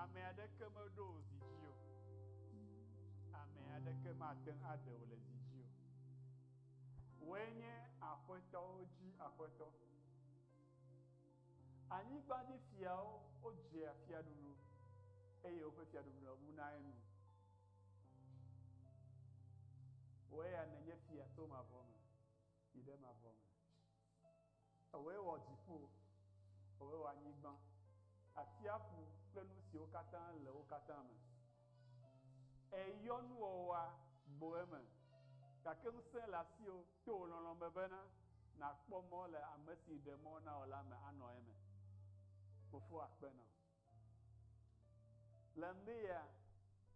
Ame aɖeke meɖo wò zi dzi o. Ame aɖeke mate ŋu aɖe wò le zi dzi o. Wòe nye aƒetɔwo dzi aƒetɔ. Anyigba dzi fiawo wodzea fiaɖuɖu eye woƒe fiaɖuɖu le ŋu na enu. Wòe ya nènye fia tso mavɔ me yi ɖe mavɔ me. Ewòe wɔ dziƒo, ewòe wɔ anyigba, atsiaƒu kple nu siwo katã le wo katã me. Èyɔ nuwɔwɔa gbo eme, gake ŋusẽ le asiwò to wò lɔlɔ̃ me bena nàkpɔ mɔ le ame si ɖe mɔ na wò la me anɔ eme. Fofo akpe na wò. Le ŋdea,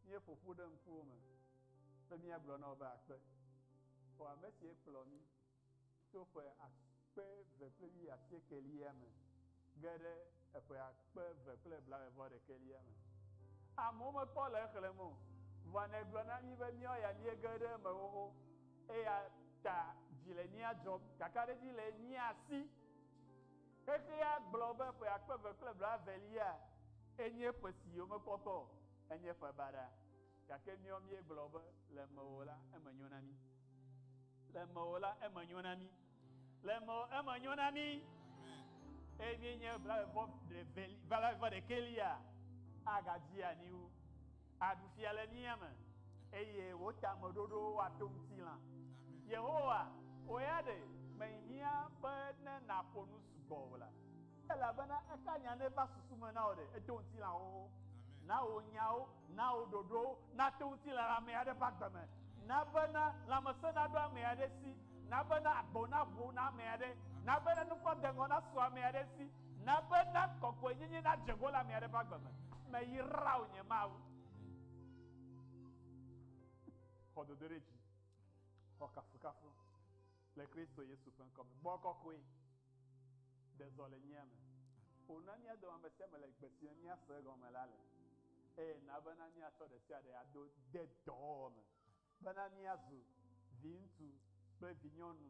míeƒo ƒu ɖe ŋkuwò me be míagblɔ na wò be akpe. O ame si ekplɔ mí. Tso ƒe akpe eve kple wuiasiekɛlia me ge ɖe eƒe akpe eve kple blaeve-vɔ-ɖekɛlia me, amewo mekpɔ le exlẽm o, vɔa nègblɔ na mí be míawo ya míege ɖe eme xoxo, eya ta dzi le mía dzɔm. Kakaɖedzi le mía si. Xexea gblɔ be ƒe akpe eve kple blaevelia enye ƒe si yomekpɔtɔ o, enye ƒe baɖa. Gake míawo míegblɔ be, Le mewò la, eme nyo na mí. Le mewò la, eme nyo na mí. Le mewò, eme nyo na mí. Eye míenye blaevɔ ɖeveli, blaevɔ ɖekelia, agadi anyi wu. Aɖu fia le mía me, eye wò tameɖoɖowo ato ŋutilã. Yehowa, wò ya ɖe menyi míaƒe ne nàƒo nu sugbɔ o la. Elabena eka nya ne va susu me na wò ɖe, eto ŋutilãwo wo. Na wò nyawo, na wò ɖoɖowo nato ŋutilã le ame aɖe ƒe agbe me. Na bena lãmesẽ naɖo ame aɖe si. Na bena agbo naʋu na ame aɖe. Na bena nukpɔ deŋɔ nasu ame aɖe si. Na bena kɔkɔenyenye nadze ƒo le ame aɖe ƒe agbe me. Meyra wò, nye Mawu. Xɔ dodoɖedzi. Xɔ kafukafu. Le Kristo Yesu ƒe ŋkɔ me, gbɔgbɔ kɔkɔe ɖe zɔ le nyea me. Ƒo nu na mía dome ame sia ame le gbe si me míase egɔme la le, eye na bena míatsɔ ɖe sia ɖe ado de dɔwɔwɔ me, bena míazu viŋutsu kple vinyɔnu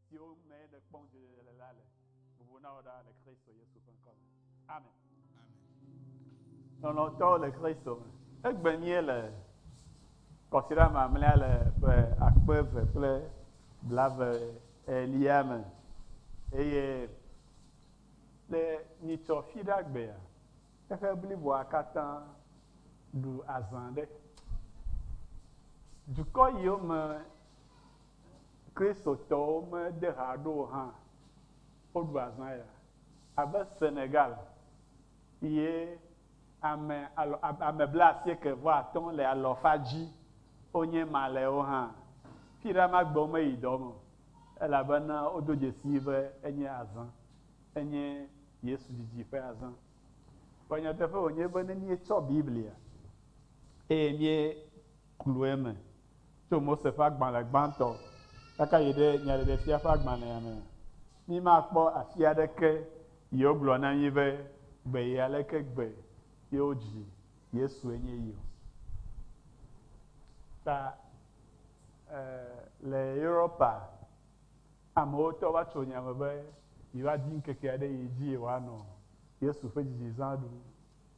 siwo mee nèkpɔm dzɔdzɔe le la le. Bubu na wò ɖa le Kristo Yesu ƒe ŋkɔ me. Amen. Lɔlɔ̃tɔwo le Kristo me. Egbe mie le kɔsiɖa mamlea le ƒe akpe eve kple blave elia me eye le nyitsɔ fi ɖe agbea eƒe bliboa katã ɖu azã ɖe dukɔ yiwo me Kristotɔwo mede ha ɖo o hã, woɖu azã ya. Abe Senegal ye ame alɔ, ame blaasieke vɔ atɔ̃ le alɔfa dzi wonye Malɛwo hã. Fi ɖe ma gbe womeyi dɔ me o, elabena wodo dzesii be enye azã. Enye Yesu didi ƒe azã. Vɔ nyateƒe wònye be ne míetsɔ Biblia eye míe, Kloe me, tso Mose ƒe agbalẽ gbãtɔ kaka yi ɖe Nyaɖeɖefia ƒe agbalẽa me. Mímakpɔ afi aɖeke yi wogblɔ na mí be gbe yi aleke gbe yi wodzi Yesue nye yi o. Ta, e, le Europa, amewo tɔ va tso nya me be yewoadi ŋkeke aɖe yi dzi yewoanɔ Yesu ƒe dzidzizã ɖum.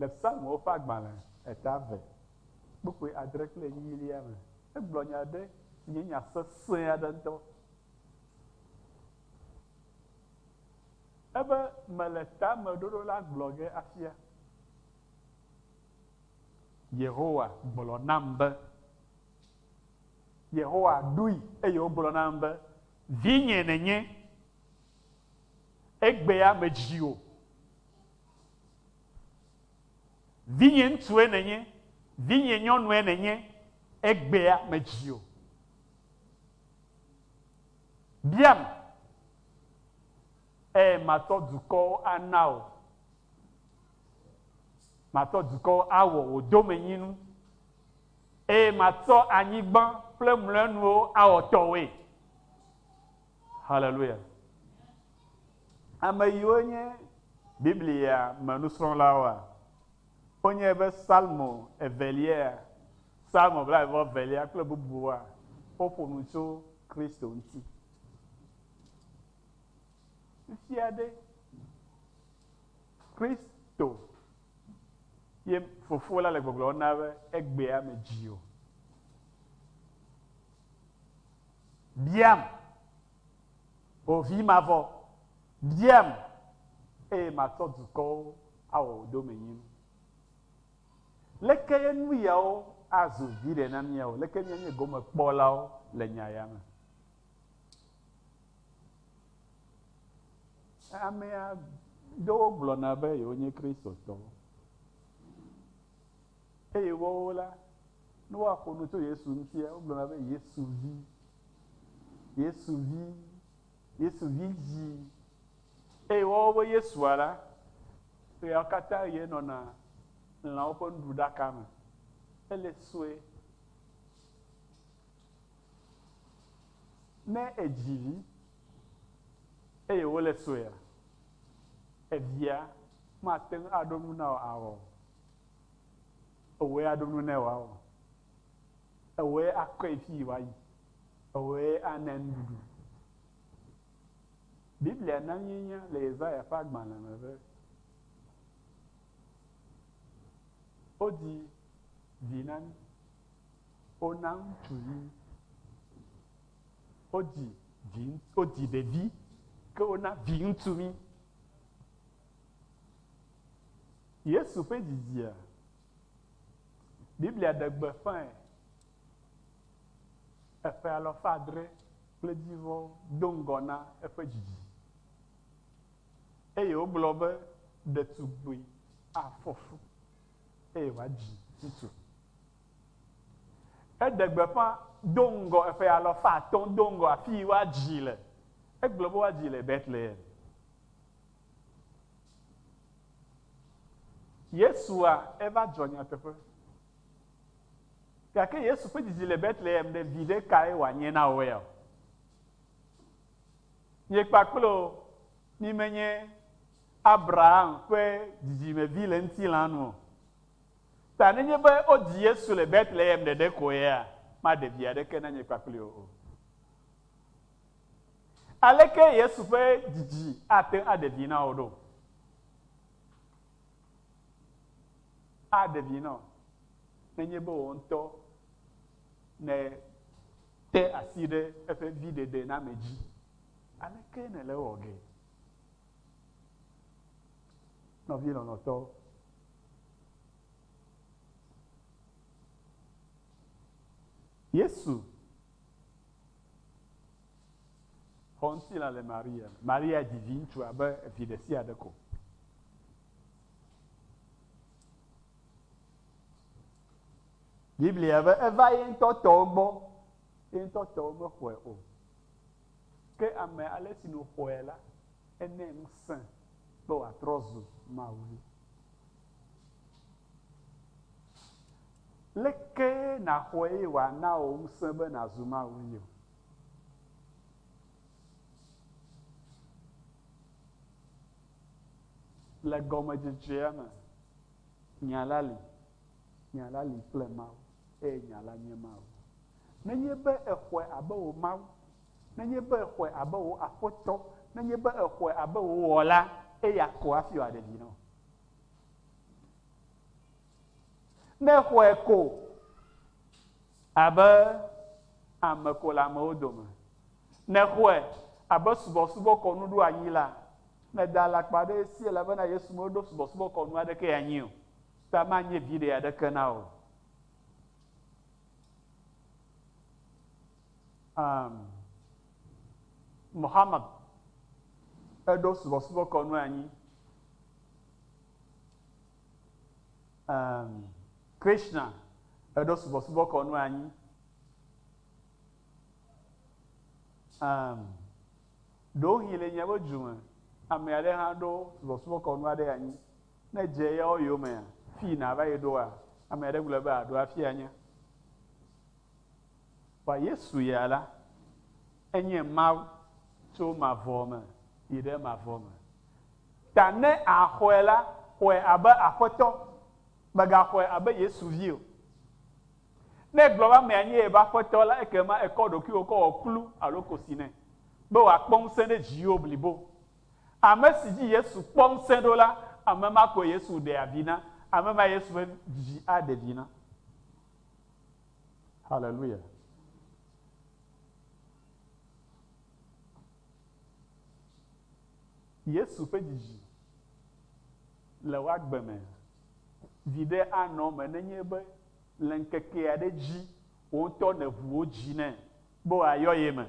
Le Psalmwo ƒe agbalẽ eta eve kpukpui adre kple enyilia me, egblɔ nya aɖe si nye nya sesẽ aɖe ŋutɔ. Ebe, Mele tameɖoɖo la gblɔ ge afia. Yehowa gblɔ nam be. Yehowa ɖoe eye wògblɔ nam be, Vinye nènye. Egbea medzi wò. Vinyɛŋutsue nènye, vinyɛnyɔnue nènye, egbea medzi o. Biam, eye matɔ dukɔwo ana wò, matɔ dukɔwo awɔ wò domenyinu, eye matsɔ anyigba kple mlɔenuwo awɔ tɔwòe. Haleluya! Ame yiwo nye Biblia me nusrɔ̃lawoa? Wonye be Psalmo Evelia, Psalmo blaeve-vɔ-evelia kple bubuwoa? Woƒo nu tso Kristo ŋuti. Fifia ɖe, Kristo ye Fofo la le gbɔgblɔm na be egbea medzi o. Biam. Wò vi mavɔ, biam, eye matsɔ dukɔwo awɔ wò domenyinu. Leke ye nu yawo azu viɖe na míawo? Leke míanye gomekpɔlawo le nya ya me? Ame aɖewo gblɔna be yewonye Kristotɔwo, eye woawo la, ne woaƒo nu tso Yesu ŋutia, wogblɔna be Yesu vi. Yesu vi, Yesu vi dzi. Eye woawo be Yesua la, ɣeawo katã ɣie nɔna lãwo ƒe nuɖuɖaka me. Ele sue. Ne èdzi vi eye wòle suea, evia mate ŋu aɖo nu na wò awɔ o. Wòe aɖo nu nɛ wòawɔ. Ewɔe akɔe fii wòayi. Ewɔe ana nuɖuɖu. Biblia na míenya le Yesaya ƒe agbalẽ me be wodi vi na mí. Wona ŋutsuvi. Wodi vi, wodi ɖevi, ke wona viŋutsu mí. Yesu ƒe dzidzia? Biblia ɖe gbeƒãe eƒe alafa adre kple dzivɔ do ŋgɔ na eƒe dzidzi, eye wogblɔ be ɖetugbui afɔ fu eye wòadzi viŋutsu. Eɖe gbeƒã do ŋgɔ eƒe alafa atɔ̃ do ŋgɔ afii woadzii le. Egblɔ be woadzii le Betlehem. Yesua eva dzɔ nyateƒe. Gake Yesu ƒe dzidzi le Betlehem ɖe viɖe kae wòanye na wò eya o. Miekpa kple o, mi menye Abraham ƒe dzidzimevi le ŋutilã nu o. Ta nenye be wodzi Yesu le Betlehem ɖeɖe koea, maɖe vi aɖeke na nye kpakple wò o. Aleke Yesu ƒe didi ate ŋu aɖe vi na wò ɖo? Aɖe vi na wò nenye be wò ŋutɔ nète asi ɖe eƒe viɖeɖename dzi. Aleke nèle ewɔ ge? Nɔvi lɔlɔ̃tɔ, Yesu Xɔŋutilã le Maria me. Maria dzi viŋutsu abe vi ɖesiaɖe ko. Biblia be eva ye ŋutɔ tɔwo gbɔ, ye ŋutɔ tɔwo mexɔe o. Ke ame ale si nu xɔe la, ene ŋusẽ be wòatrɔ zu Mawu. Leke nàxɔe eye wòana wò ŋusẽ be nàzu Mawu yɔ? Le gɔmedzedzea me, nya la li, nya la li kple Mawu, eye nya la nye Mawu. Nenye be èxɔe abe wò Mawu, nenye be èxɔe abe wò Aƒetɔ, nenye be èxɔe abe wò Wɔla, eya ko hafi wòaɖe vi na wò. Ne xɔe ko abe ame ko le amewo dome, ne xɔe abe subɔsubɔkɔnu ɖo anyi la, mèda alakpa ɖe esi elabena Yesu meɖo subɔsubɔkɔnu aɖeke anyi o, ta manye viɖe aɖeke na wò o. Um, Muhammad eɖo subɔsubɔkɔnu anyi. Emm Krishna eɖo subɔsubɔ kɔnu anyi Emm ɖewohĩ le miabe du me ame aɖe hã ɖo subɔsubɔ kɔnu aɖe anyi ne edze eyawo yomea fii nàva yi ɖoa ame aɖe gblɔe be àɖo hafi anya Vɔa Yesu ya la enye Mawu tso mavɔ me yi ɖe mavɔ me Ta ne àxɔe la, xɔe abe Aƒetɔ, mègaxɔe abe Yesu vi o. Ne ègblɔ be amea nye eƒe aƒetɔ la, ekema èkɔ ɖokuiwò kɔ wɔ kplu alo kosi nɛ, be wòakpɔ ŋusẽ ɖe dziwò blibo. Ame si dzi Yesu kpɔ ŋusẽ ɖo la, ame ma koe Yesu ɖea vi na, ame mae Yesu ƒe Vi aɖe vi na. Haleluya! Yesu ƒe dzidzi le wo agbe me viɖe anɔ eme nenye be le ŋkeke aɖe dzi wò ŋutɔ nèʋu wò dzi nɛ be wòayɔ ye me,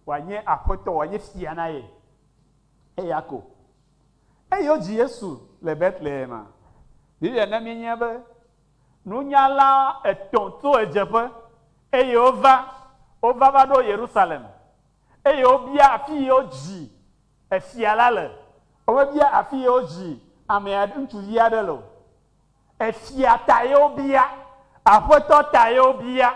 wòanye Aƒetɔ, wòanye Fia na ye. Eya ko. Eyɔ dzi Yesu le Betlehema. Biblia na míenya be Nunyala etɔ̃ tso ɣedzeƒe, eye wova, wova va ɖo Yerusalem, eye wobia afi yi wodzi efia la le. Womebia afi yi wodzi ame aɖe, ŋutsuvi aɖe le o. Efia ta ye wobia, Aƒetɔ ta ye wobia.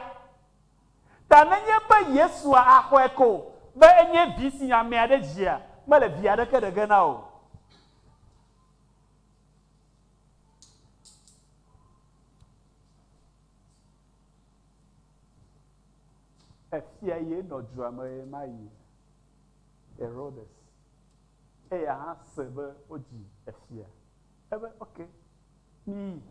Ta nenye be Yesua axɔe ko be enye vi si ame aɖe dzia, mele vi aɖeke ɖe ge na o. Efia ye nɔ dua me ɣemaɣi, Herodes. Eya hã se be wodzi efia. Ebe, Ok, miyi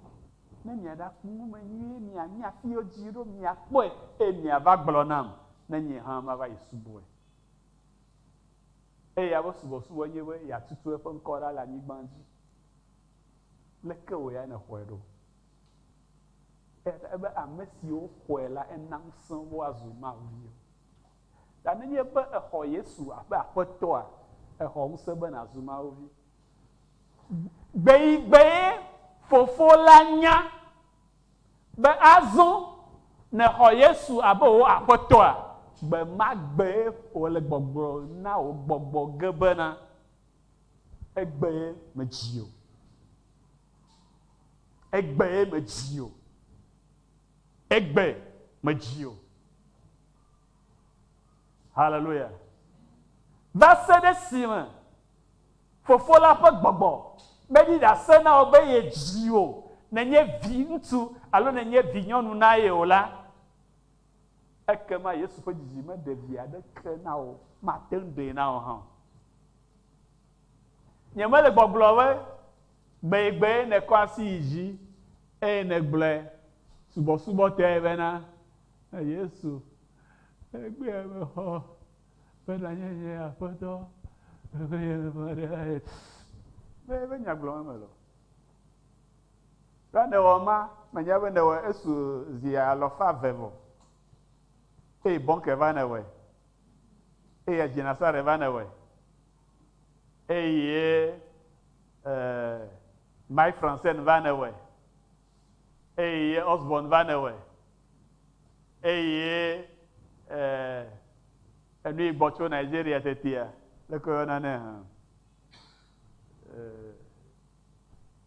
ne miaɖakpɔ nume nyuie, mianya afi yi wodzii ɖo, miakpɔe, eye miava gblɔ nam, ne nye hã mava yi subɔe. Eya ƒe subɔsubɔ nye be yeatutu eƒe ŋkɔ ɖa le anyigba dzi. Leke wòe ya nèxɔe ɖo? Eya ta ebe ame siwo xɔe la, ena ŋusẽ wo azu Mawu viwo. Ta ne nye be èxɔ Yesu abe Aƒetɔa, èxɔ ŋusẽ be nàzu Mawu vi. Gbeyigbee Fofo la nya be azɔ nèxɔ Yesu abe wò Aƒetɔa, gbemagbee wòle gbɔgblɔm na wò gbɔgbɔ ge bena, Egbee medzi o. Egbee medzi o. Egbe medzi o. Haleluya. Va se ɖe esime Fofo la ƒe gbɔgbɔ meɖi ɖase na wò be yedzi wò nènye viŋutsu alo nènye vinyɔnu na ye o la, Ekema Yesu ƒe dzidzime ɖe vi aɖeke na wò o. Mate ŋu ɖee na wò hã o. Nyemele gbɔgblɔ be gbegbee nèkɔ asi yi dzi eye nègblɔe subɔsubɔtɔe bena, Yesu, egbea mexɔ be nànye nye Aƒetɔ kple nye Nunɔla. Mele eƒe nya gblɔm eme le o. Ɖe nèwɔ ema? Menye be nèwɔe esu zi alɔfa eve vɔ, eye bɔnke va nèwɔe, eye adzinasare va nèwɔe, eye Mike Francen va nèwɔe, eye Osborne va nèwɔe, eye enu yi gbɔ tso Nigeria tetea, leke woyɔna nɛ hã?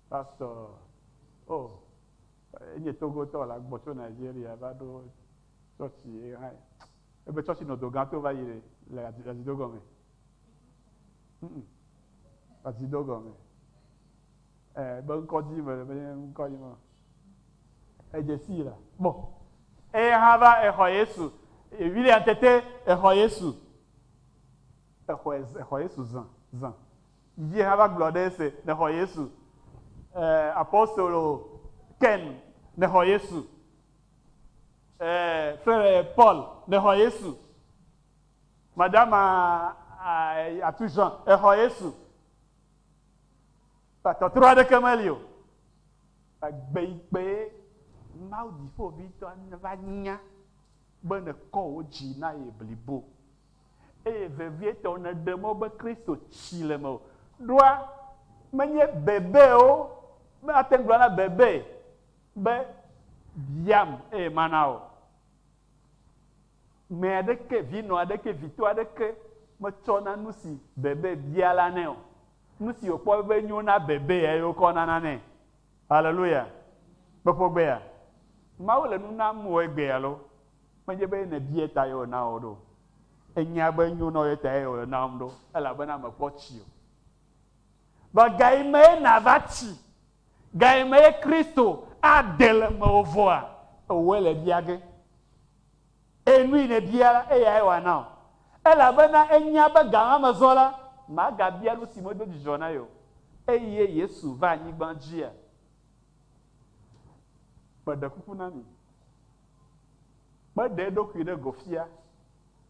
Pastor, Oh, enye Togotɔ la gbɔ tso Nigeria va ɖo tsɔtsi ye hã. Ebe tsɔtsi nɔ dogã to va yi ɖe le azido gɔme. Ŋ-ŋ. Azido gɔme. Ɛ, be ŋkɔ di me le be ŋkɔ yi me. Edze sii la gbɔ. Eye hã va exɔ Yesu. William tete exɔ Yesu. Exɔ, exɔ Yesu zã, zã. Vivien hã va gblɔ ɖe ese, nexɔ Yesu. Eer apostolo Ken, nexɔ Yesu. Eer frere Paul, nexɔ Yesu. Madama atu Jean, exɔ Yesu. Ba tɔtrɔ aɖeke meli o. Ba gbe yi gbe ye Mawu Dziƒoʋĩtɔ va nya be nekɔ wò dzi na ye blibo. Eye vevietɔ nèɖe mɔ be Kristo tsi le mewò ɖoa? Menye bebe o. Mate ŋu gblɔ na bebe be, Biam eye mana wò. Ŋmɛ aɖeke, vinɔ aɖeke, vito aɖeke metsɔ na nusi bebe bia la nɛ o. Nusi wòkpɔ be nyo na bebee eye wokɔ nana nɛ. Haleluya! Kpɔƒogbea? Mawu le nu nam o egbea loo. Menye be nèbiae ta ye wòna wɔ ɖo. Ènya be enyo na wò ye ta ye wòle nam ɖo, elabena mekpɔ tsi o. Vɔ gaye mee nàva tsi? Gaye mee Kristo ade le mewò vɔa? Ewòe le bia ge. Eye nu yi nèbia la, eyae wòana wò. Elabena enya be ga ma me zɔ la, màgabia nu si medo dzidzɔ na ye o. Eye Yesu va anyigba dzia? Meɖe kuku na mi. Meɖe eɖokui ɖe go fia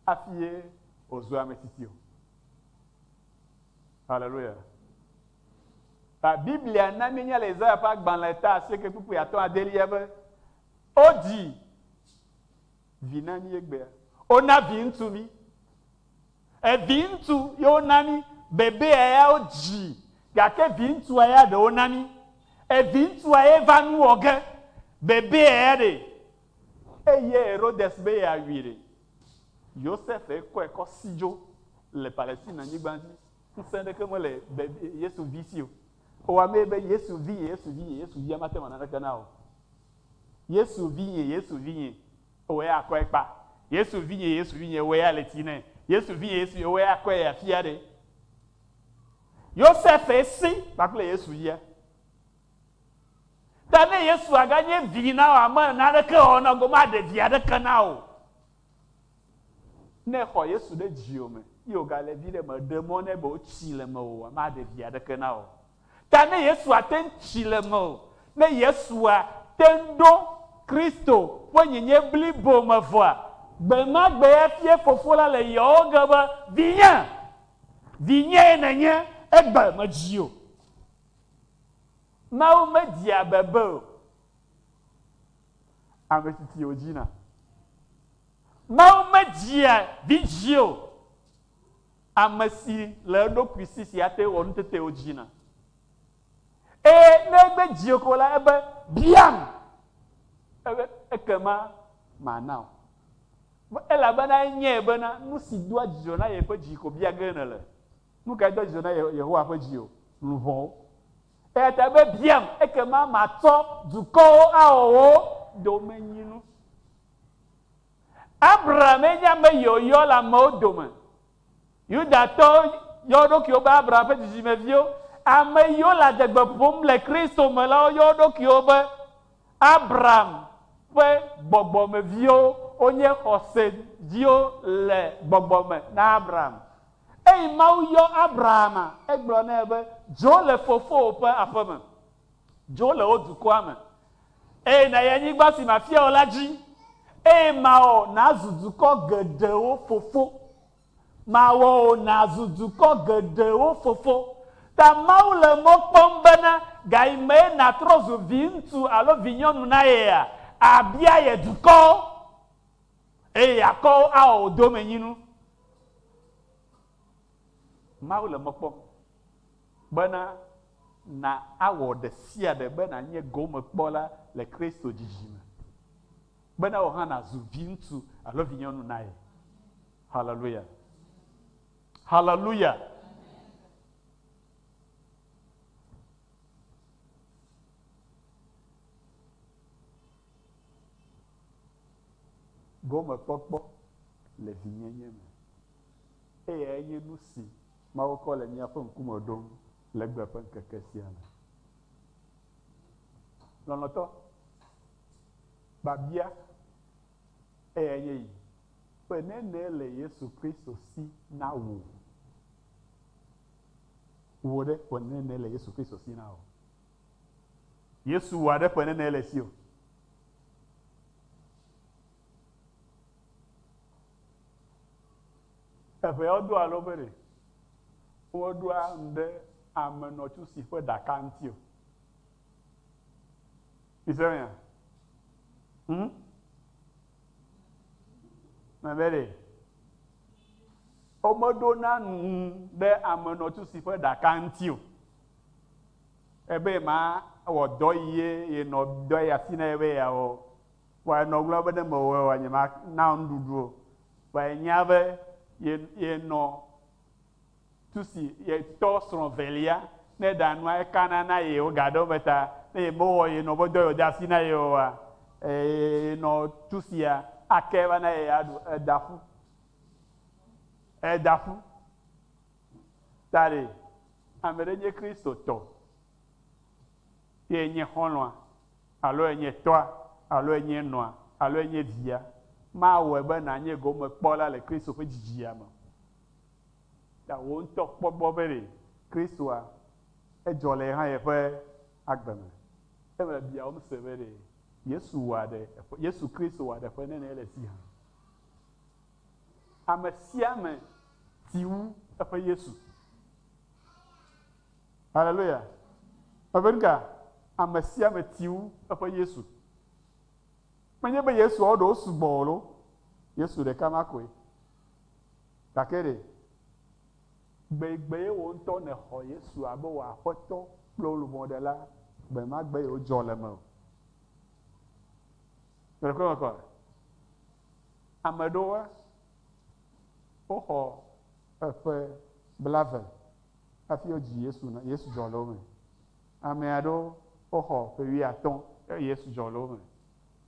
hafi ye wòzu ame tsitsi o. Haleluya! Ta Biblia na míenya le Yesaya ƒe agbalẽ ta asieke kpukpui atɔ̃ adelia be, Wodzi vi na mí egbea, wona viŋutsu mí, Eviŋutsu ye wona mí. Bebea ya wodzi gake viŋutsua ya ɖe wona mí. Eviŋutsua ye va nu wɔ ge. Bebea ya ɖee. Eyie Herodes be yeawui ɖe. Yosef ye kɔe kɔ si dzo le Palestine nyigba dzi. Ŋusẽ ɖeke mele bebie Yesu vi si o. Ewa mee be Yesu vinye, Yesu vinye, Yesu via mate ŋu awɔ naneke na wò o. Yesu vinye, Yesu vinye, Wòe akɔe kpa. Yesu vinye, Yesu vinye, wòe ale ti nɛ. Yesu vinye, Yesu vinye, wòe akɔe afia ɖe. Yosefe si kpakple Yesu yia. Ta ne Yesu aganye vi na wòa me naneke wɔ na go maɖe vi aɖeke na wò. Ne xɔ Yesu ɖe dziwò me ye wògale vi ɖe me ɖe mɔ nɛ be wotsi le mewòa maɖe vi aɖeke na wò. ta ne Yesu ate ŋu tsi le mewò, ne Yesua te ŋu ɖo Kristo ƒe nyenye blibo me vɔa, gbe ma gbe efia Fofo la le yewo ge be, Vinye, vinyee nènye, egbe medzi o. Mawu media bebe o. Ame si ti wòdzina. Mawu media vidzĩ o. Ame si le eɖokui si si ate wɔ nutetewo dzina. Eye ne egbe dzi ko la, ebe, Biam, ebe, ekema mana wò. Elabena enyae bena nu si doa dzidzɔ na yeƒe dzi ko bia ge nèle. Nu kae doa dzidzɔ na Yehowa ƒe dzi o? Luʋɔwo. Eya ta ebe, Biam, ekema matsɔ dukɔwo awɔ wò domenyinu. Abrahame nye ame yɔyɔ le amewo dome. Yudatɔwo yɔ wo ɖokuiwo be Abraham ƒe dzidzimeviwo. Ame yiwo le adegbe ƒom le Kristo me lawo yɔ wo ɖokuiwo be Abraham ƒe gbɔgbɔmeviwo. Wonye xɔse dziwo le gbɔgbɔ me na Abraham. Eyi Mawu yɔ Abrahama, egblɔ nɛ be, Dzo le fofowò ƒe aƒe me. Dzo le wò dukɔa me. Eye nàyi anyigba si mafia wò la dzi, eye mawɔ nàzu dukɔ geɖewo fofo. Mawɔ wò nàzu dukɔ geɖewo fofo. Ta Mawu le mɔ kpɔm bena gayimee nàtrɔ zu viŋutsu alo vinyɔnu na yea? Àbia ye dukɔwo, eye yeakɔ wo awɔ wò domenyinu. Mawu le mɔ kpɔm. Bena na awɔ ɖe sia ɖe be nànye gomekpɔla le Kristo dzidzi me, bena wò hã nàzu viŋutsu alo vinyɔnu na ye. Haleluya! Haleluya! Gomekpɔkpɔ le vinyenye me. Eyae nye nusi Mawu kɔ le míaƒe ŋkume ɖom le egbe ƒe ŋkeke sia me. Lɔlɔ̃tɔ, biabia eyae nye yi, Ƒe nene le Yesu Kristo si na wò? Wò ɖe, ƒe nene le Yesu Kristo si na wò? Yesu wòa ɖe ƒe nene le esi o? Eƒe yɔ do alo ƒe ɖe. Wo ɖo anu ɖe ame nɔ tsu si ƒe ɖaka ŋuti o. Mi se mea? Hm? Me be ɖe. Wo me ɖo na nu ɖe ame nɔ tsu si ƒe ɖaka ŋuti o. Ebe ma wɔ dɔ yi ye ye nɔ dɔ ya si na ye be ya wɔ. Kpɔe nɔ gblɔm be ne mewɔe oa, nyemana wò nuɖuɖu o. Vɔ yenya be ye, yenɔ tu si yetɔ srɔ̃ velia, ne eɖa nua, ekana na ye wogaɖe wo me ta. Ne yemewɔ ye nɔ be do yewo de asi na ye oa, yenɔ tu sia ake va na ye aɖu. Eda ƒu, eda ƒu. Ta ɖe, ame ɖe nye Kristotɔ. Ɖe enye xɔlɔ̃a, alo enye tɔa, alo enye nɔa, alo enye via, mawɔe be nànye gomekpɔla le Kristo ƒe dzidzia me o. Ta wò ŋutɔ kpɔ egbɔ be ɖe Kristoa edzɔ le ye hã yeƒe agbe me. Ele biawòm se be ɖe Yesu wɔa ɖe eƒe, Yesu Kristo wɔa ɖe eƒe nɛnɛ le esi hã. Amesiame ti wu eƒe Yesu. Haleluya! Eve nuka? Ame sia ame ti wu eƒe Yesu. Menye be Yesuawo ɖewo sugbɔ o loo, Yesu ɖeka ma koe. Gake ɖe gbegbegbee wò ŋutɔ nèxɔ Yesu abe wò Aƒetɔ kple wò Lubɔɖela gbe ma gbe ye wodzɔ le mewò? Ɖe kpɔe mekpɔ le? Ame aɖewoa, woxɔ eƒe blave hafi wodzi Yesu nɔ Yesu dzɔ le wo me. Ame aɖewo woxɔ ƒe wuiatɔ̃ eye Yesu dzɔ le wo me.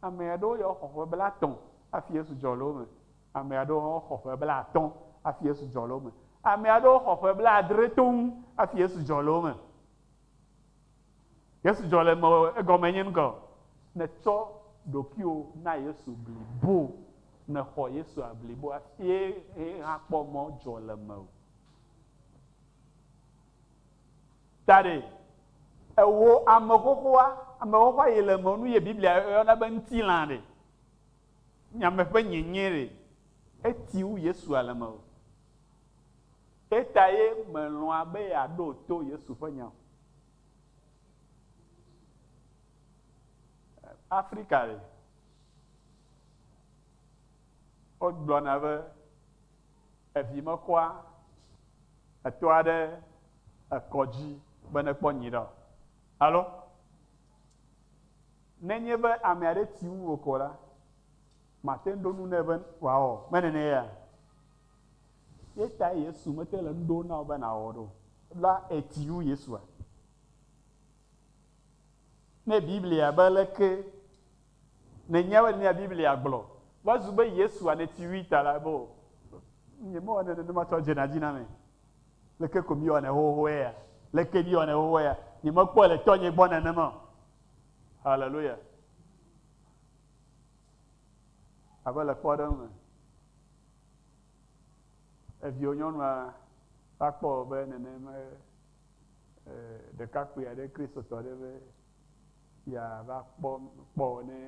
Ame aɖewo ya woxɔ ƒe blatɔ̃ hafi Yesu dzɔ le wo me. Ame aɖewo hã woxɔ ƒe blatɔ̃ hafi Yesu dzɔ le wo me. Ame aɖewo xɔ ƒe blaadre toŋ hafi Yesu dzɔ le wo me. Yesu dzɔ le mewò egɔme nye ŋgɔ. Nètsɔ ɖokuiwò na Yesu blibo, nèxɔ Yesua blibo hafi ye hã kpɔ mɔ dzɔ le mewò. Daɖɛ, Ewɔ ame xoxoa, ame xoxoa yi le eme nu ye Biblia yɔna be ŋtilã ɖe, nya me ƒe nyenye ɖe, eti wu Yesua le eme o. Eyata ye melɔ̃a be yeaɖo to Yesu ƒe nya o. Afrika ɖe, Wogblɔna be Evi mekɔa etɔa ɖe ekɔ dzi be nekpɔ nyuiɖe o. Alo ne nye be ame aɖe ti ŋu o ko la, mate ŋu ɖo nu nɛ be wòawɔ o. Me nene yea? Ye tae Yesu mete le nu ɖom na wò be nàwɔ ɖo la eti ŋu Yesua? Ne Biblia be leke? Nenye be nea Biblia gblɔ va zu be Yesu wane ti ʋui ta la, ebe o. Nyemewɔnɛ nenema tsɔ dzena dzi na mea? Leke ko miewɔnɛ xoxoxoe ya? Leke miewɔnɛ xoxoxoe ya? Nyemekpɔe le tɔnye gbɔ nenema o. Haleluya! Abe le kpɔɖeŋu me, eviwò nyɔnua va kpɔ wò be nenema ɖekakpui aɖe, Kristotɔ aɖe be Fia va kpɔ kpɔ wo ne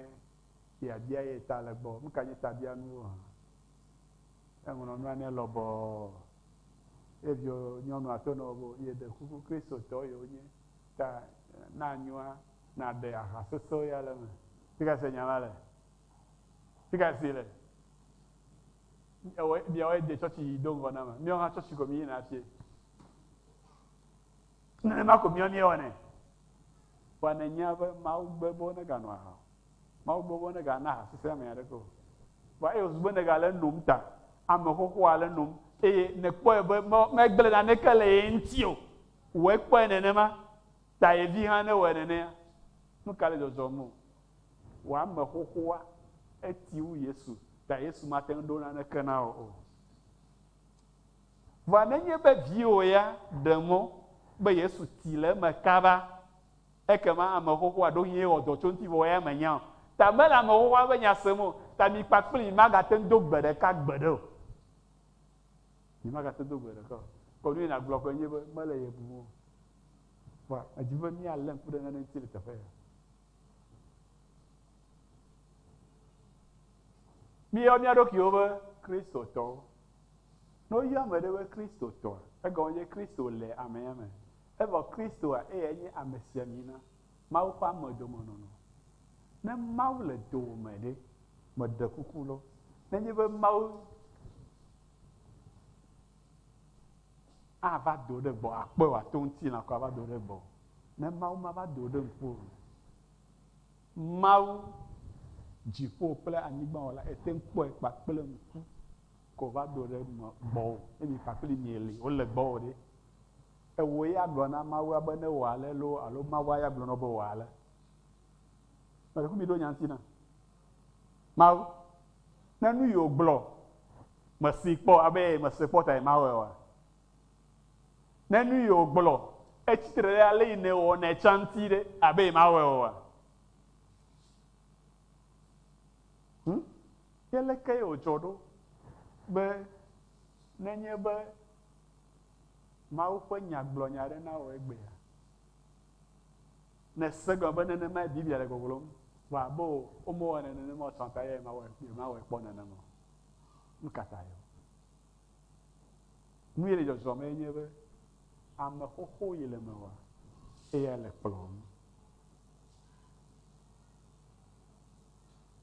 fia bia ye ta le gbɔ. Nu ka nye tabianuwo hã? Eŋlɔ nua nɛ lɔbɔɔ. Ye viwo nyɔnua to nɔ wo be ye ɖe kuku Kristotɔ ye wo nye ta na nyoa na ɖe aha sese ya le eme. Fika se nya ma le? Fika si le? Ewɔ miawo ye de tsɔtsi yi do ŋgɔ na ma. Miawo hã tsɔtsi ko mi yi na fie. Nenema ko míawo míewɔnɛ. Vɔa nènyea be Mawu gbe be woneganɔ aha o. Mawu gbe be wonegana aha sese ame aɖeke o. Vɔa eye wòzu be nègale enom ta ame xoxoa ale nom eye nèkpɔe be megblẽ naneke le ye ŋuti o, wò ekpɔe nenema ta ye vi hã newɔe nenea. Nuka le dzɔdzɔm o? Wò ame xoxoa eti wu Yesu ta Yesu mate ŋu ɖo naneke na wò o. Vɔa nenye be viwò ya ɖe mɔ be Yesu ti le eme kaba, ekema ame xoxoa ɖo hĩe wɔ dɔ tso ŋuti vɔ eya menya o, ta mele ame xoxoa ƒe nya sem o, ta mi kpakplii magate ŋu do gbe ɖeka gbeɖe o. Mi magate ŋu do gbe ɖeka o. Kɔ nu ye nàgblɔ ƒe nye be mele ye bum o. Vɔa, medi be míalé ŋku ɖe nane ŋuti le teƒe ya. Míeyɔ mía ɖokuiwo be Kristotɔwo. Ne woyɔ ame ɖe be Kristotɔa, egɔme nye be Kristo le amea me, evɔ Kristoa eyae nye amesiamina, Mawu ƒe amedomenɔnɔ. Ne Mawu le dowòme ɖe, meɖe kuku lɔ, nenye be Mawu ava do ɖe gbɔwò, akpɔe wòato ŋutilã ko ava do ɖe gbɔwò, Ne Mawu mava do wò ɖe ŋku o la, Mawu, dziƒo kple anyigba Wɔla, ète ŋu kpɔe kpakple ŋku ke wòva do ɖe gbɔwò. Ne mi kpakpli mie li, wole gbɔwò ɖe, ewòe ya gblɔ na Mawua be ne wɔ ale loo alo Mawua ya gblɔ na wò be wɔ ale. Meɖe fu miɖo nya ŋuti na. Mawu, ne nu yi wògblɔ, mèsee kpɔ abe mese kpɔ tae mawɔe oa? Ne nu yi wògblɔ etsi tre ɖe ale yi nèwɔnɛ tsã ŋuti ɖe, abe yemawɔe oa? Hm, ke alekee wòdzɔ ɖo be nenye be Mawu ƒe Nya gblɔ nya aɖe na wò egbea, nèse gɔme be nenemae Biblia le gbɔgblɔm? Vɔ abe womewɔnɛ nenema o tsã ta yemawɔe kpɔ nenema o. Nu ka tae? Nu ye le dzɔdzɔ mee nye be ame xoxo ye le me wa eye ele kplɔm.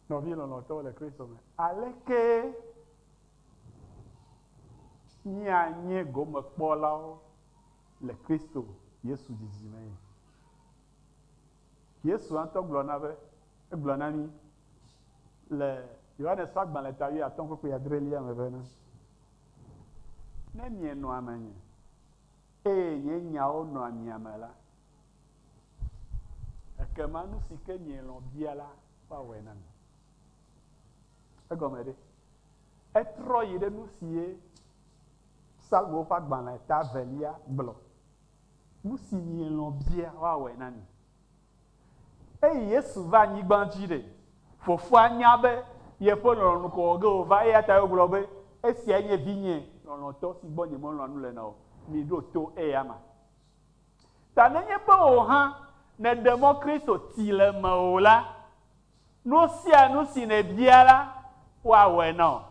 Nɔvi lɔlɔtɔwo le Kristo me, aleke míanye gomekpɔlawo le Kristo Yesu didi mee? Yesu ŋutɔ gblɔ na be, egblɔ na mí le Yohanes ƒe agbalẽ ta wuiatɔ̃ ƒe kpui adrelia me bena, Ne mienɔa menye, eye nye nyawo nɔa mia me la, ekema nu si ke mielɔ̃ bia la, woawɔe na mi. Egɔme ɖe? Etrɔ yi ɖe nu si ye Psalmowo ƒe agbalẽ ta evelia gblɔ Nu si mielɔ̃ bia woawɔe na mi. Eyi Yesu va anyigba dzi ɖe, Fofoa nya be yeƒe lɔlɔ̃nu kɔ ge wòva eya tae wògblɔ be, Esiae nye Vinye lɔlɔ̃tɔ si gbɔ nyemelɔ̃a nu le na o, miɖo to eyama. Ta nenye be wò hã nèɖe mɔ Kristo ti le mewò la, nu sia nu si nèbia la, woawɔe na wò.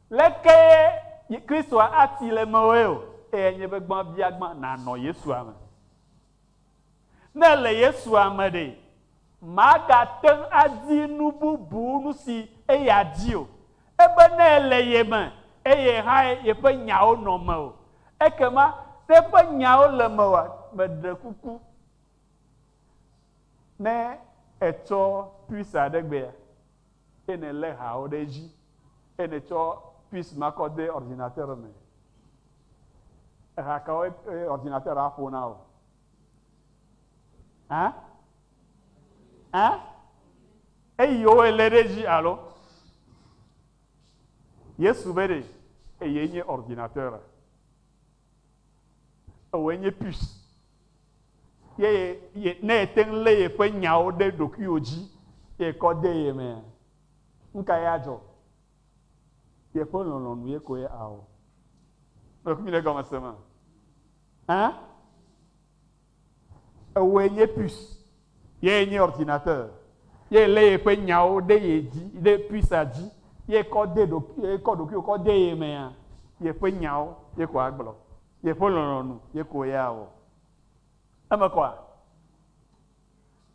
Lekee Kristoa ati le mewòe o, eyae nye be gbã bia gbã nànɔ Yesua me. Ne èle Yesua me ɖe, màgate ŋu adi nu bubu nu si eya di o. Ebe ne èle ye me eye hãe yeƒe nyawo nɔ mewò. Ekema ne eƒe nyawo le mewòa, meɖe kuku ne ètsɔ pizza ɖe gbea. eye nèlé hawo ɖe edzi, eye nètsɔ pis ma kɔ de ordinateur me. Eha kawoe ordinateur aƒo na wò? Hã? Hã? Eyiwoe lé ɖe edzi alo? Yesu be ɖe eye nye ordinateur, ewɔe nye pis. ye ye ne ete ŋu lé yeƒe nyawo ɖe ɖokuiwò dzi ye kɔ de ye mea, nu kae adzɔ? Yeƒe lɔlɔ̃nu ye koe awɔ. Mekpɔ nyuie ɖe gɔmesese me? Hã? Ewɔe nye puce, ye nye ordinateur, ye lé yeƒe nyawo ɖe ye dzi ɖe pucea dzi ye kɔ de ɖokuiwò kɔ de ye mea, yeƒe nyawo ye ko agblɔ. Yeƒe lɔlɔ̃nu ye ko ya wɔ. Eme kɔa?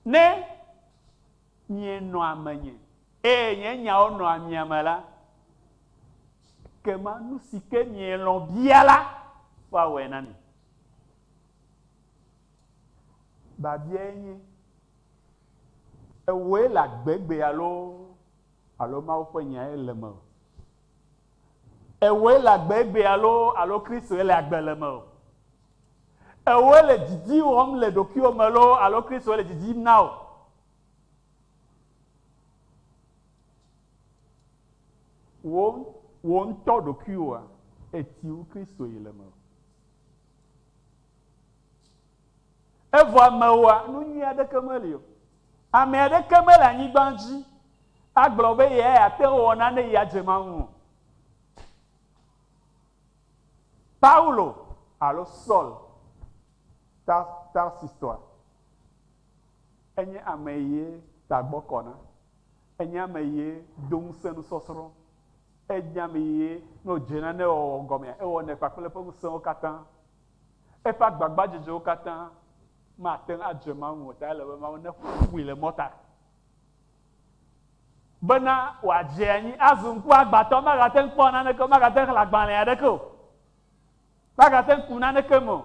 Ne mienɔa menye eye nye nyawo nɔa mia me la, ekema nu si ke mielɔ̃ bia la, woawɔe na mi. Babiae nye, Ewɔe le agbegbe alo alo Mawu ƒe nyae le eme o? Ewɔe le agbe egbea alo alo Kristoe le agbe le mewò? Ewɔe le didi wɔm le ɖokuiwò me alo alo Kristoe le didi yim na wò? Wò wò ŋutɔ ɖokuiwòa eti wu Kristoe le mewò? Evɔ amewoa, nu nyui aɖeke meli o. Ame aɖeke mele anyigba dzi agblɔ be yeya ate ŋu awɔ nane eye adze Mawu o. Paulo alo Saul Tarsistɔa, enye ame ye tagbɔ kɔ na. Enye ame ye do ŋusẽ nusɔsrɔ̃. Enye ame ye ne wòdze nane wɔwɔ gɔmea, ewɔnɛ kpakple eƒe ŋusẽwo katã. Eƒe agbagbadzedzewo katã mate ŋu adze Mawu ŋu o, ta ele be Mawu neƒo nu ƒui le mɔta bena wòadze anyi azu ŋkuagbãtɔ. Magate ŋu kpɔ naneke o, magate ŋu xlẽ agbalẽ aɖeke o, magate ŋu ku naneke me o.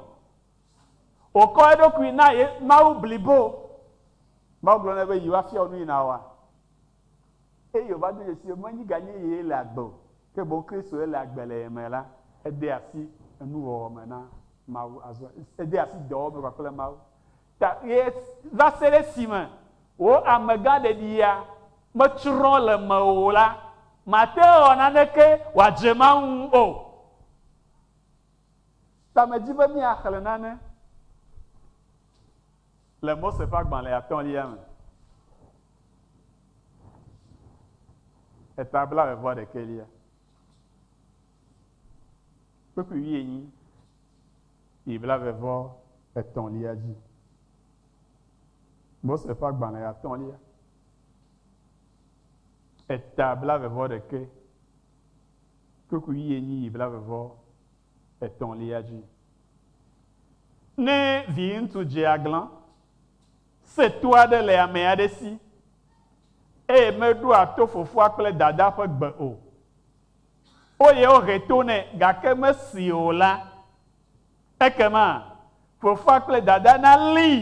Wòkɔ eɖokui na Mawu blibo. Mawu gblɔ nɛ be, Yi woafia wò nu yi nàwɔa. eye wòva do dzesii be menyi ganye ye le agbe o, ke boŋ Kristoe le agbe le ye me la, edea asi enuwɔwɔ me na Mawu azɔ, edea asi dɔwɔwɔ me kpakple Mawu ta ɣie va se ɖe esime wò amegãɖeɖia metsrɔ̃ le mewò o la, màte ŋu awɔ naneke wòadze Mawu ŋu o. Ta medzi be míaxlẽ nane. Le Mose ƒe agbalẽ atɔ̃lia me, eta blaeve-vɔ-ɖekɛlia, kpukpui wuienyi yi blaeve-vɔ-etɔ̃lia dzi. Mose ƒe agbalẽ atɔ̃lia, eta blaeve-vɔ-ɖekɛ, kpukpui wuienyi yi blaeve-vɔ-etɔ̃lia. etɔ̃lia dzi. Ne viŋutsu dze aglã se to aɖe le ame aɖe si eye meɖoa to fofoa kple dadaa ƒe gbe o, eye wohe to nɛ gake mesee o la, ekema fofoa kple dadaa nalée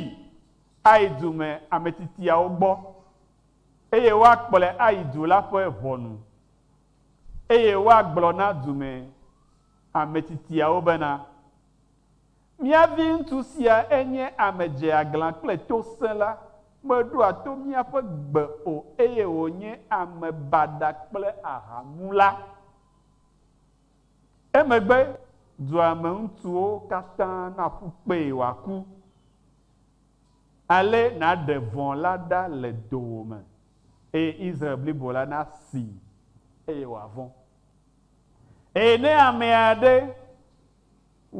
ayi du me ametsitiawo gbɔ, eye woakplɔe ayi du la ƒe ʋɔnu. Eye woagblɔ na dumɛ ametsitiawo bena, Mía viŋutsu sia enye ame dzeaglã kple tosẽla, meɖoa to míaƒe gbe o, eye wònye ame baɖa kple ahamula. Emegbe dua me ŋutsuwo katã naƒu kpee wòaku. Ale nàɖe vɔ̃ la ɖa le dowòme. eye Israel blibo la nasii eye wòavɔ̃. Eye ne ame aɖe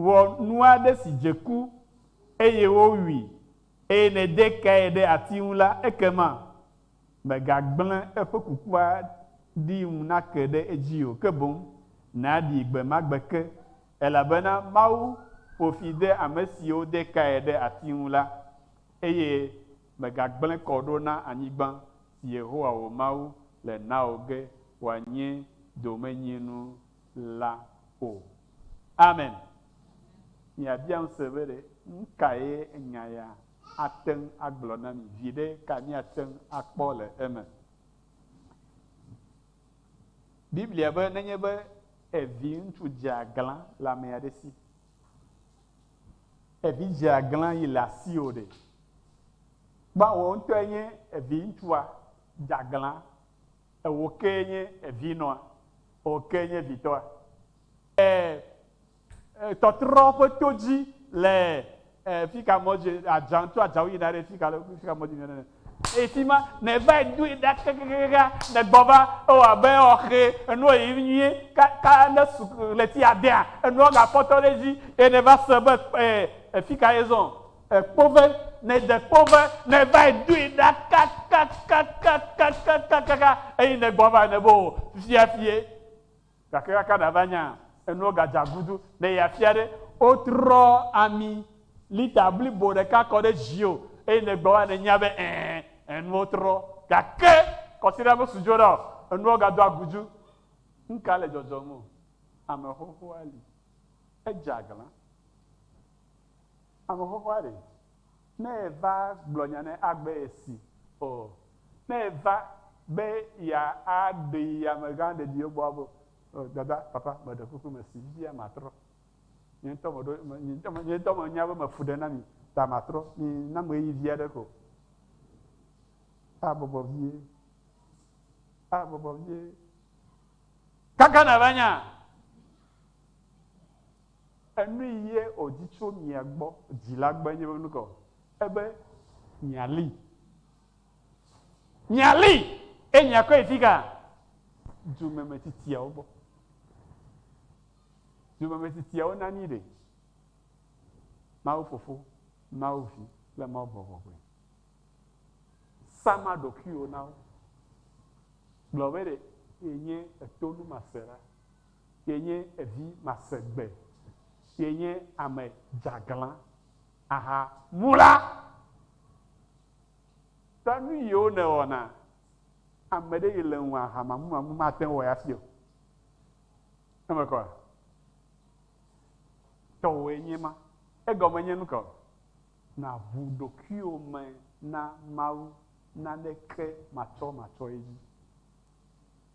wɔ nu aɖe si dze ku eye wowui eye nède kae ɖe ati ŋu la, ekema mègagblẽ eƒe kukua ɖi ŋu nake ɖe edzi o, ke boŋ nàɖii gbe ma gbe ke, elabena Mawu ƒo fi de ame siwo de kae ɖe ati ŋu la Eye mègagblẽ kɔ ɖo na anyigba si Yehowa wò Mawu le na wò ge wòanye domenyinu la o. Amen. Miabia ŋusẽ be ɖe nu kae nya ya ate ŋu agblɔ na mi? Viɖe ka míate ŋu akpɔ le eme? Biblia be nenye be eviŋutsu dzea glã le ame aɖe si Evi dzea glã yi le asiwò ɖe? Kpɔ wò ŋutɔe nye evi ŋutsua dza glã, ewò kee nye evi nɔa? Ewò kee nye vitɔa? Ee, tɔtrɔ ƒe to dzi le fika mɔ dzi, adzã, tso adzãwo yina ɖe fika, fika mɔ dzi yina ɖe. Eyi fi ma, ne eva yi doe ɖa kakakaka, ne gbɔ va, ewɔ abe ewɔ xe, enuɔ yiyim nyuie, ka, ka ne su ɣleti adea, enuɔ ga kpɔtɔ ɖe edzi, ye ne va se be kpe, e, fika ye zɔn? E, kpove, ne de kpove, ne va yi doe ɖa kakakakakakakaka, eyi ne gbɔ va, ne be o, fifia fi ye. Gake kaka ɖava nya enuwo gadze agudu ne yeafia ɖe wotrɔ ami lita blibo ɖeka kɔ ɖe dziwò eye nègbe wa nènya be ẽ, enuwo trɔ. Gake kɔsiɖa mesu dzo ɖa o, enuwo gado agudu. Nuka le dzɔdzɔm o? Ame xoxoa li. Edze aglã. Ame xoxoa ɖee. Ne eva gblɔ nya ne agbe si o. Ne eva be ya a ɖe yi ame gã ɖe ɖi egbɔ abo o. Dada, papa, me ɖe kuku me si fifia ma trɔ. Nye ŋutɔ me ɖo, nye ŋutɔ me, nye ŋutɔ me nya be me fu ɖe na mi ta ma trɔ. Mi nam ɣeyivi aɖe ko. A bɔbɔ vie. A bɔbɔ vie. Kaka na va nya. Enui yɛ odi tso mia gbɔ, dzila gbe nye ŋu kɔ, ebe mialii. Mialii, eye miakɔe yi fika? Dumemetsitsiawo gbɔ. Dumemetsitsiawo nani ɖe? Mawu Fofo, Mawu Vi kple Mawu Gbɔgbɔgbɔe. Sama ɖokuiwò na wo. Gblɔ be ɖe yenye etonumaseɖa. Kee nye evi masegbe, kee nye ame dzeaglã, aha mu la, ta nu yiwo nèwɔna, ame ɖe yi le ŋu aha mamumamu mate ŋu wɔ ya si o. Eme kɔa? Tɔwòe nye ma. Egɔme nye nu kaɔ? Nàʋu ɖokuiwò me na Mawu naneke matsɔmatsɔe dzi.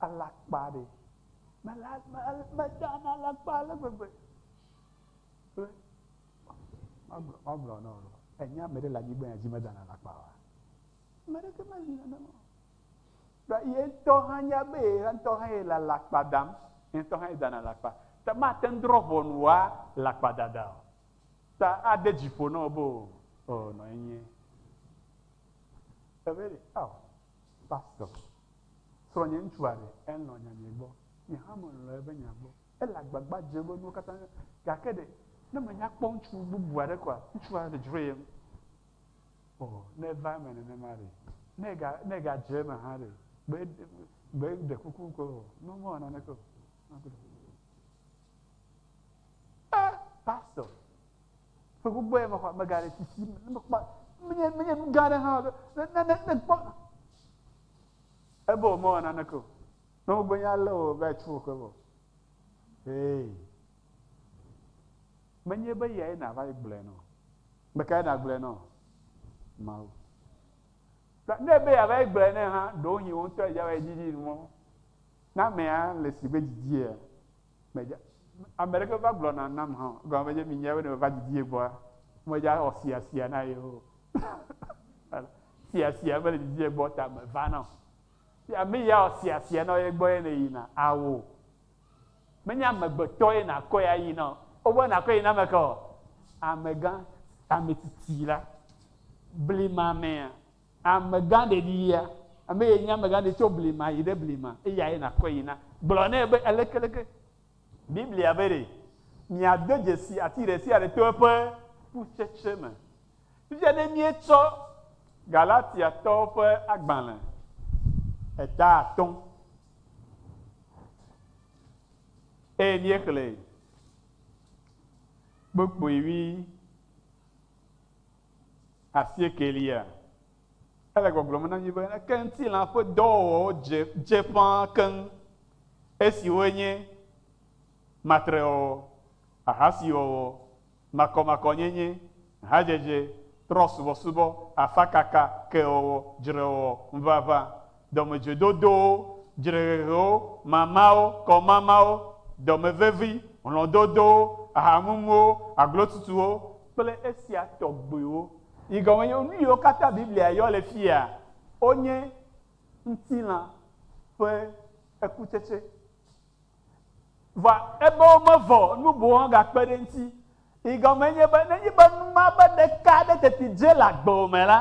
alakpa ɖe. Mela, me, meda na alakpa ale gbegbe be, magblɔ, magblɔ na wò be, ènye ame ɖe le anyigba ya dzi meda na alakpa oa? Ame aɖeke meli nenema o. Ta ye ŋutɔ hã nya be ye ŋutɔ hã ye le alakpa dam. Ye ŋutɔ hã ye dana alakpa. Ta mate ŋu drɔ̃ ʋɔnu wò alakpadada o. Ta ade dzi ƒo na wò be, Oo, oo, nɔ enye. Ebe ɖe, ao, pastor, Srɔ̃nye ŋutsua ɖe? Elɔ̃ nyanyui gbɔ. Nye hã melɔ̃ eƒe nya gbɔ. Ele agbagba dzem be nuwo katã nya. Gake ɖe, ne menya kpɔ ŋutsu bubu aɖe koa, ŋutsua aɖe dzro ye ŋu? O, ne eva eme nenema ɖe! Ne ega, ne egadze eme hã ɖe! Gbe, gbe, ɖe kuku ko o. Mɔ, mewɔ naneke o. Ɛ, pastor, Ƒe gbogbo ya mexɔ amegã ɖe si si ne mekpɔ menye menye nu gã aɖe hã ne ne ne ne kpɔ. Ebe womewɔ naneke o. Ne wogbenye alé wò be atsu wò ke vɔ. Ee. Menye be yae nàva yi gblɔe nɔ. Ame kae nàgblɔe nɔ? Mawu. Ne ebe yeava yi gblɔe nɛ hã, ɖewohĩ wò ŋutɔ èdze va yi didi mɔ na amea le si be didie ya. Medza, ame ɖeke va gblɔ na nam hã o. Egɔme menye mi nyae be ne meva didi ye gbɔa, medza wɔ sia sia na ye o. sia sia mele didi ye gbɔ ta meva na o. Ya me ya wɔ sia sia na ye gbɔ ye ne yina awo. Menye amegbetɔ ye nakɔ ya yi na o. Wobe nakɔ yi na ame ka o? Amegã, ametsitsi la. Blima mea, Amegã ɖeɖi yea? Ame ye nye amegã ɖe tso blema yi ɖe blema, eya ye nàkɔe yi na. Gblɔ nɛ be, Aleke, aleke? Biblia be ɖe, Miade dzesi ati ɖe sia ɖe to eƒe kutsetse me. Fifia ne míetsɔ Galatiatɔwo ƒe agbalẽ eta atɔ̃ eye míexlẽe kpokpui ʋĩ Asiekɛlia, Ele gbɔgblɔm na mí be ke ŋutilã ƒe dɔwɔwɔwo dze dze ƒã keŋ, esiwoe nye matrewɔwɔ, ahasiwɔwɔ, makɔmakɔnyenye, hadzedze, trɔ̃subɔsubɔ, afakaka, kewɔwɔ, dzrewɔwɔ, ŋuʋaʋã, dɔmedzoedodowo, dzrehehewo, mamawo, kɔmamawo, dɔme vevi, hlɔ̃dodowo, ahamumuwo, aglotutuwo, kple esia tɔgbiwo, yi gɔme nye nu yiwo katã Biblia yɔ le fiaa, wonye ŋutilã ƒe ekutsetse Vɔ ebe womevɔ nu boŋ woagakpe ɖe eŋuti. Yi gɔmee nye be, nenye be nu ma be ɖeka aɖe teti dze le agbewò me la,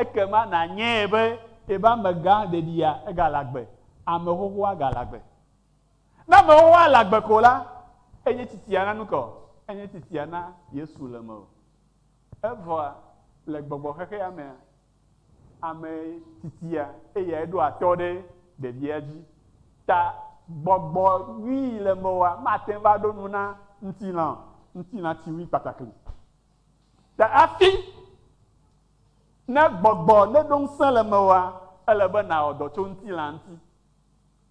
ekema nànyae be ebe amegã ɖeɖia, egale agbe, ame xoxoa gale agbe. Ne ame xoxoa le agbe ko la, enye tsitsia na nu ka o? Enye tsitsia na Yesu le mewò. Evɔa, le gbɔgbɔxexeamea, Ame tsitsia, eyae ɖoa tɔ ɖe ɖevia dzi. Ta gbɔgbɔ nyui yi le meoa, mate ŋu va ɖo nu na ŋutilã o. Ŋutilã tsi ŋui kpatakli. Ta hafi ne gbɔgbɔ neɖo ŋusẽ le meoa, ele be nàwɔ dɔ tso ŋutilã ŋuti.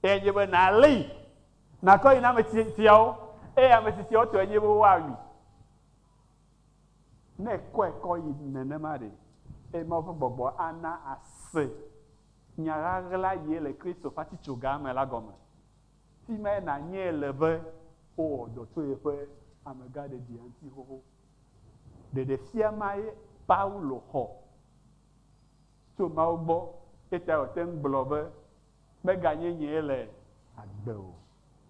Eyae nye be nàlii, nàkɔ yi na ame tsitsiawo, eye ame tsitsiawo tɔe nye be woawui. Ne èkɔe kɔ yi nenema ɖe, eye Mawu ƒe gbɔgbɔ ana àse nya ɣaɣla ye le Kristo ƒe atitsoga me la gɔme. Fi mae nànyae le be wowɔ dɔ tso yeƒe amegãɖeɖia ŋuti xoxo. Ɖeɖefia mae Paulo xɔ tso Mawu gbɔ, eyetae wòte ŋu gblɔ be, Meganye nyee le agbe o,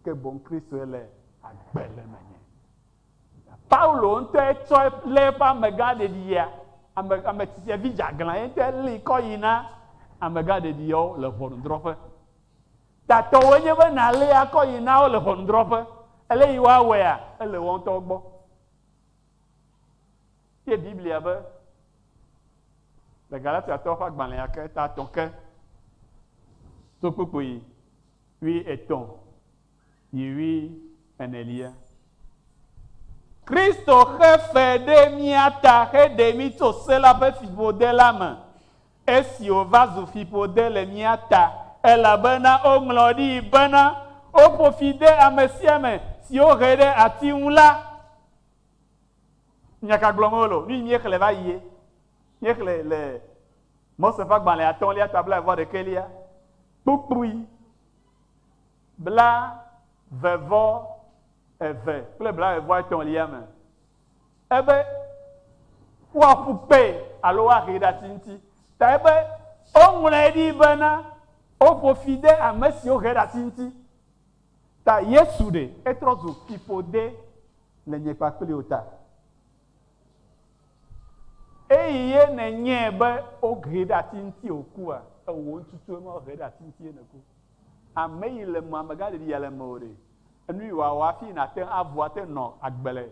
ke boŋ Kristoe le agbe le menye. Paulo ŋutɔe tsɔe lé eƒe amegã ɖeɖiyea, ame, ame tsitsevi dzeaglã, ye ŋutɔe lée kɔ yi na amegã ɖeɖiyeawo le ʋɔnudrɔ̃ƒe. Tatɔwoe nye be nàlée akɔ yi na wo le ʋɔnudrɔ̃ƒe. Alesi woawɔea, ele woawo ŋutɔwo gbɔ. Ye Biblia be, le Galatiatɔwo ƒe agbalẽa ke, ta etɔ̃ ke, to kpukpui wuietɔ̃, Nyiri enelia. Kristo xe fe ɖe mía ta heɖe mí tso Se la ƒe fiƒode la me, esi wòva zu fiƒode le mía ta, elabena woŋlɔ ɖii bena, Woƒo fi de ame sia ame si wohe ɖe ati ŋu la. Nya ka gblɔm wole o? Nu yi míexlẽ va yie. Míexlẽ le Mose ƒe agbalẽ atɔ̃lia ta blaeve-vɔ-ɖekɛlia kpukpui. blaeve-vɔ eve kple blaeve-vɔ etɔ̃lia me, ebe woaƒu kpe alo woahee ɖe ati ŋuti, ta ebe woŋlɔe ɖi bena, Woƒo fi de ame siwo hee ɖe ati ŋuti. Ta Yesu ɖe etrɔ zu fiƒode le nye kpakple wò ta. Eye nenye be wohee ɖe ati ŋuti wòkua, ewò ŋututue ma wohee ɖe ati ŋuti ye nèku. Ameyi le mea me gali ya le meo ɖe? Enuyi wa wa fi nate ŋu avu ate ŋu nɔ agbe le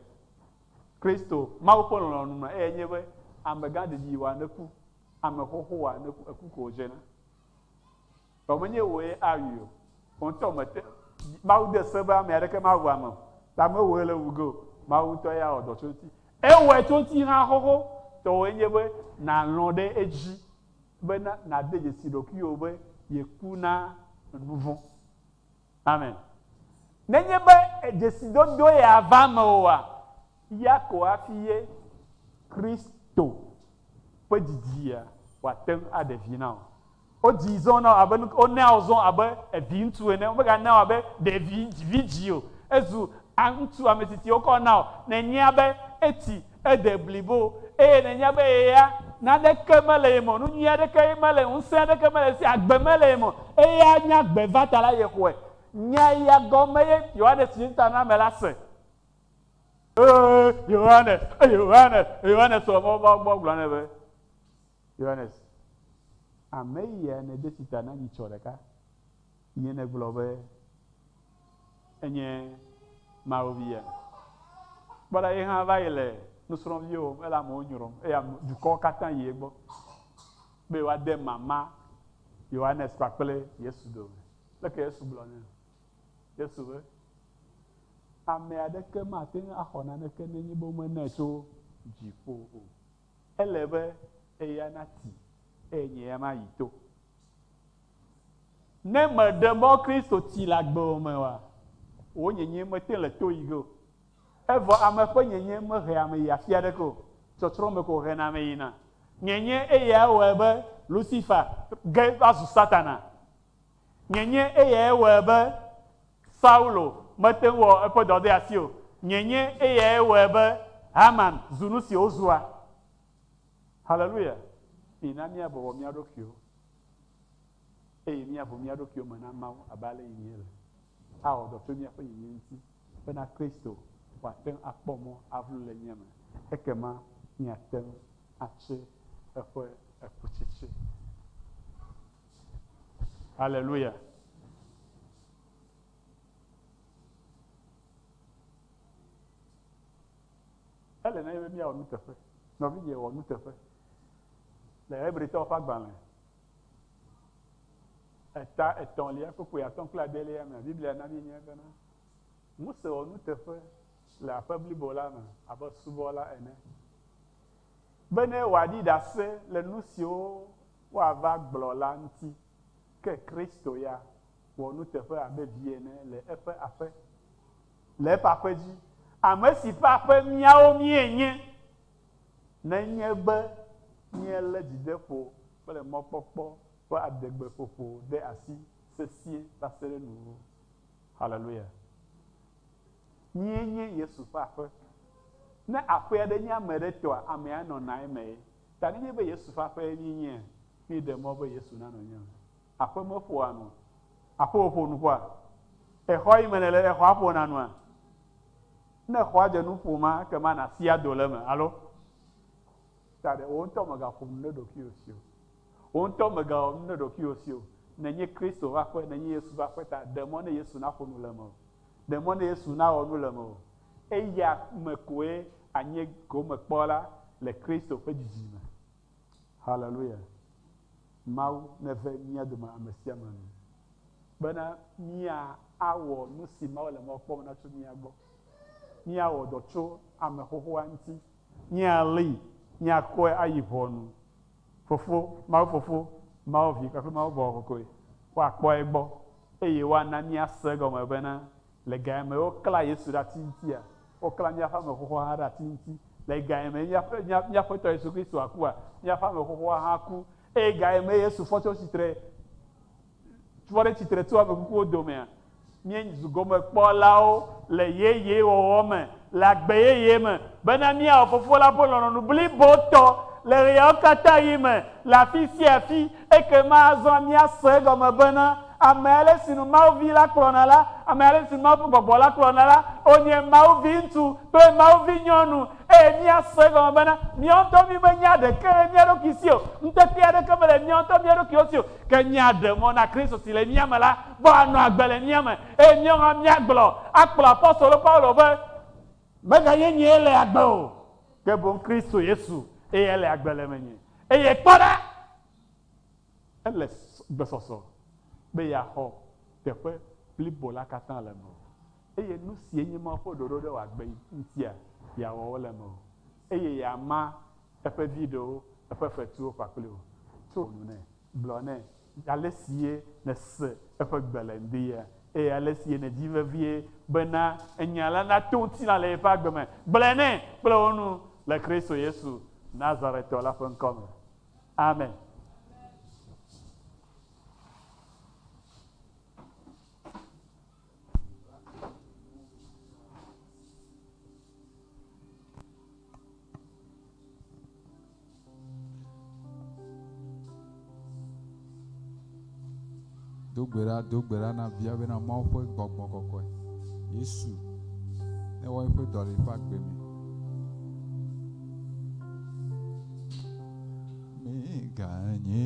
Kristo, Mawu ƒe lɔlɔ̃nu me, eyae nye be ame gã ɖeɖi yi wa ne ku, ame xoxo wa ne ku, eku ko wodze na. Vɔ menye wòe awui o. Wò ŋutɔ mète ŋu, Mawu de se be ame aɖeke mawu ame o, ta mewɔe le wu ge o, Mawu ŋutɔ ye awɔ dɔ tso eŋuti. Ewɔe tso ŋuti hã xoxo tɔwòe nye be nàlɔ̃ ɖe edzi bena nàde dzesi ɖokuiwò be yeku na nu vɔ̃. Amen. Nenye be dzesidodoe ya va eme oa, ya ko hafi ye Kristo ƒe dzidzia wòate ŋu aɖe vi na wò. Wodzii zɔ na wò abe nu ka? Wonea wò zɔ abe viŋutsu ene. Womeganea wò abe ɖevi vidzĩ o. Ezu ŋutsu ametsitsi wokɔ na wò. Nenye be etsi Ede blibo, eye nènya be ye ya, naneke mele ye me o, nu nyui aɖeke mele, ŋusẽ aɖeke mele esi, agbe mele ye me o, eye anya agbe va ta la, yexɔe. Nya ya gɔme ye Yohanes Ŋutanamela se. Ee, Yohanes, e, Yohanes, e, Yohanes wɔ mɔ va wo gbɔ gblɔ nɛ be, Yohanes, ame yi ya nède tsi ta na nyitsɔ ɖeka. Nye negblɔ be enye Mawu Via? Kpɔ ɖa, ye hã va yi le nusrɔ̃viwo wòm, ele amewo nyrɔm, eye ame, dukɔwo katã yi egbɔ be yewoade mama Yohanes kpakple Yesu dome. Leke Yesu gblɔ nɛ? Yesu be, Ame aɖeke mate ŋu axɔ naneke nenye be womenae tso dziƒo o. Ele be eya nati, eye nye ya mayi to. Ne mèɖe mɔ Kristo tsi le agbe o me oa, wò nyenyee mete le to yi ge o. Evɔ ame ƒe nyenyee mehea ame yia afi aɖeke o, tsɔtsrɔ̃ me ko wòhena ame yina. Nyenyee eyae wɔe be Lusifa ge va zu Satana. Nyenyee eyae wɔe be Saulo mete ŋu wɔ eƒe dɔdeasi o. Nyenyee eyae wɔe be Haman zu nu si wòzua. Haleluya! Mina míabɔbɔ mía ɖokuiwo. eye míaʋu mía ɖokuiwo me na Mawu abe ale yi míele. Awɔ dɔ tso míaƒe yiyim ŋuti bena Kristo wòate ŋu akpɔ mɔ aʋlu le mía me, ekema míate ŋu atse eƒe ekutsetse. Haleluya! Ele na mí be míawɔ nuteƒe. Nɔvinye, wɔ nuteƒe. Le Hebritɔwo ƒe agbalẽ eta etɔ̃lia ƒe ƒoe atɔ̃ kple adelia mea, Biblia na míenyae bena, Mose wɔ nuteƒe le aƒe blibo la me abe subɔla ene, bene wòaɖi ɖase le nu siwo woava gblɔ la ŋuti. Ke Kristo ya wɔ nuteƒe abe vi ene le eƒe aƒe, le eƒe aƒe dzi, ame si ƒe aƒe míawo míenye, nenye be míelé dzideƒo kple mɔkpɔkpɔ ƒe adegbeƒoƒo ɖe asi sesĩe va se ɖe nuwuwu. Haleluya! Míenye Yesu ƒe aƒe. Ne aƒe aɖe nye ame aɖe tɔa, amea nɔna emee. Ta nenye be Yesu ƒe aƒee míenye, míeɖe mɔ be Yesu nanɔ nye me. Aƒe meƒoa nua? Aƒe wòƒo nuƒoa? Exɔ yi me nèle ɖe, xɔa ƒona nua? Ne xɔa dze nu ƒoma, ekema nàsi ado le eme, alo? Ta ɖe wò ŋutɔ mègaƒo nu ɖe ɖokuiwò si o. Wò ŋutɔ mègawɔ nu ɖe ɖokuiwò si o. Nènye Kristo ƒe aƒe, nènye Yesu ƒe aƒe, ta ɖe mɔ ne Yesu naƒo nu le mewò. Ɖe mɔ ne Yesu nawɔ nu le mewò. Eya me koe anye gomekpɔla le Kristo ƒe didi me. Haleluya! Mawu neve mía dome amesiame nu bena mía awɔ nusi Mawu le mɔ kpɔm na tso mía gbɔ. Mía wɔ dɔ tso ame xoxoa ŋuti. Mía lée, mía kɔe ayi ʋɔnu. Fofo, Mawu Fofo, Mawu Vi kpakple Mawu Gbɔgbɔ Kɔkɔe woa kpɔ egbɔ eye woa na mía se egɔme bena Le ga ye me woklã Yesu ɖe ati ŋutia, woklã míaƒe ame xoxoa hã ɖe ati ŋuti. Le ga ye mee míaƒe, mía, mía Aƒetɔ Yesu Kristo akua, míaƒe ame xoxoa hã aku. Eye ga ye mee Yesu fɔ tso tsitre, fɔ ɖe tsitre tso ame kukuwo domea, míezu gomekpɔlawo le yeyewɔwɔ me. le agbe yeye me, bena míawɔ Fofo la ƒe lɔlɔ̃nu blibotɔ le ɣeawo katã ɣi me le afi sia afi. Ekema azɔ míase egɔme bena, ame ale si nu Mawu Vi la kplɔna la, ame ale si nu Mawu ƒe Gbɔgbɔ la kplɔna la, wònye Mawu Viŋutsu kple Mawu Vinyɔnu. Eye míase egɔme bena, míawo ŋutɔ mímenya ɖeke le mía ɖokui si o, ŋutete aɖeke mele míawo ŋutɔ mía ɖokuiwo si o, ke míaɖe mɔ na Kristo si le mía me la gbɔ anɔ agbe le mía me, Eye míawo hã míagblɔ akplɔ apostolo Paulo be, Meganye nyee le agbe o, ke boŋ Kristo Yesu ye ele agbe le menye. Eye kpɔ ɖa, ele gbesɔsɔ be yeaxɔ teƒe blibo la katã le eme o, eye nu sie nye Mawu ƒe ɖoɖo ɖe wòagbe ŋutia, yeawɔ wo le eme o, eye yeama eƒe vi ɖewo, eƒe fetuwo kpakple wò. Tso nu nɛ, gblɔ nɛ, Ale sie nèse eƒe gbe le ŋdie, eye ale sie nèdi vevie bena enya la nato ŋutilã le yeƒe agbe me, gblɔe nɛ kple wò nu le Kristo Yesu Nazaretɔ la ƒe ŋkɔ me. Amen. Do gbe ɖa, do gbe ɖa na via bena Mawu ƒe gbɔgbɔ kɔkɔe, Yesu, ne wɔ eƒe dɔ le eƒe agbe me. Meganye.